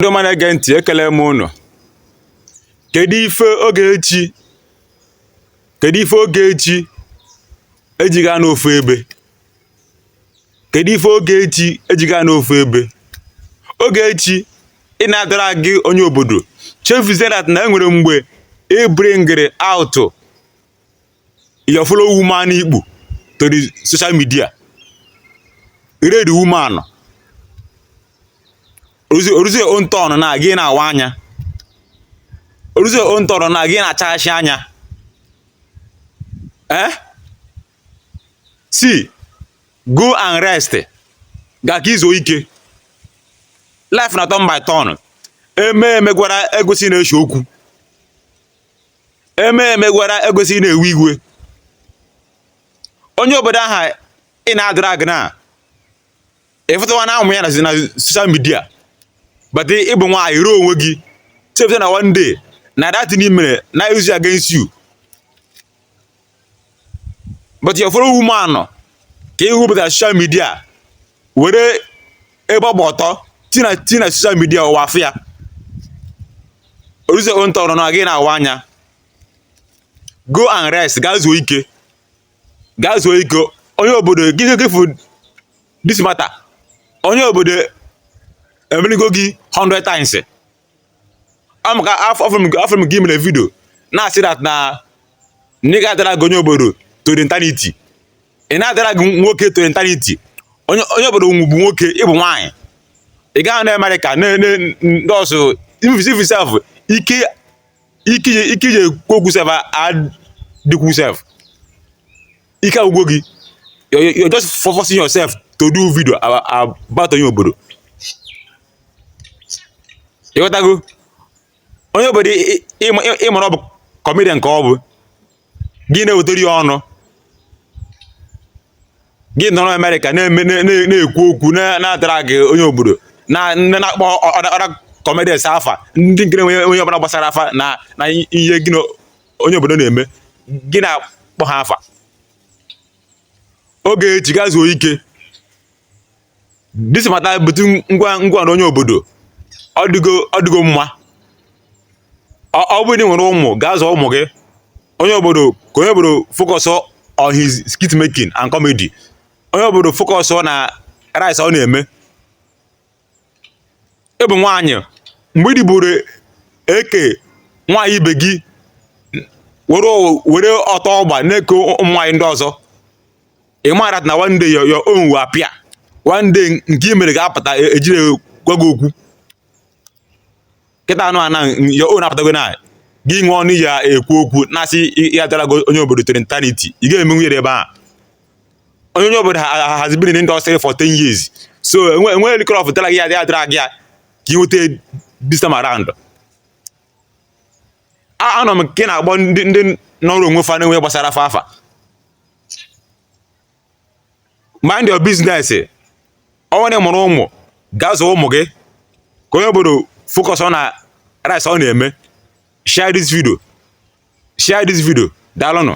ndị ọma na-ege ntị ekele m ụnụ kedu ife Ogechi kedu ife Ogechi eji ga-anọ ofu ebe kedu ife Ogechi eji ga-anọ ofu ebe Ogechi ị na-adrag onye obodo chefuzie that na enwere mgbe ị bringịrị out your fellow woman ikpu to the social media married woman oruzie own turn na gị na-awa anya oruzie own turn na gị na-achaghasị anya eh see go and rest gaa ka i zuo ike life na turn by turn eme emegwara ekwesịghị na-ese okwu eme emegwara ekwesịghị na-ewe iwe onye obodo aha ị na-adrag na ịfụtawa na ụmụ ya na social media but ị bụ nwaanyị ruo onwe gị chepụta na one day na that thing ị mere na use against you but your fellow woman ka i bupụtara social media were ebe ọ gba ọtọ tinye na social media ụwa afụ ya oruzie own turn na gị na-awa anya go and rest gaa zuo ike gaa zuo ike onye obodo gịnị gị fụ this matter onye obodo emeligo gị 100 times ọ maka afụrụ m gị ị mere video na-asị that na ị ga-adrag onye obodo to the eternity ị na-adrag nwoke to the eternity onye obodo bụ nwoke ị bụ nwaanyị ị gaghị na America ndị ọsụ ivisi sef ike ike i ji ekwu okwu sef adịkwu sef ike agwụgo gị you're just forcing yourself to do video about onye obodo ị ghọtago onye obodo ị mara ọ bụ comedian ka ọ bụ gị na-ewetara ya ọnụ gị nọrọ America na-ekwu okwu na-adrag onye obodo na-akpọ other comedians afa ndị nkiri onye ọbụla gbasara fa na ihe gị onye obodo na-eme gị na-akpọ ha afa Ogechi gaa zuo ike this matter between gịwa na onye obodo ọ dịgo ọ dịgo mma ọ ọ bụrụ na ị nwere ụmụ gaa zụọ ụmụ gị onye obodo ka onye obodo focus on his skit making and comedy onye obodo focus na rice ọ na-eme ị bụ nwaanyị mgbe ị dịburu eke nwaanyị ibe gị were were ọtọ ọ gba na-eke ụmụ nwaanyị ndị ọzọ ị maara na one day your your own will appear one day nke i mere ga-apụta e jire gwa gị okwu kịta anụ ana your own apụtago na gị nwe ọnụ ya ekwu okwu na-asị ya drag onye obodo till eternity ị ga-eme nwunye ebe a onye onye obodo has been in industry for 10 years so enweghị likọrọ ọfụ drag ya ya drag ya ka ị nweta this time around anọ m nke na-agbọ ndị ndị nọrọ onwe fa na-enwe gbasara fa afa mind your business ọ wụ na ị mụrụ ụmụ gaa zụọ ụmụ gị ka onye obodo focus na rice ọ na-eme share this video share this video daalụnụ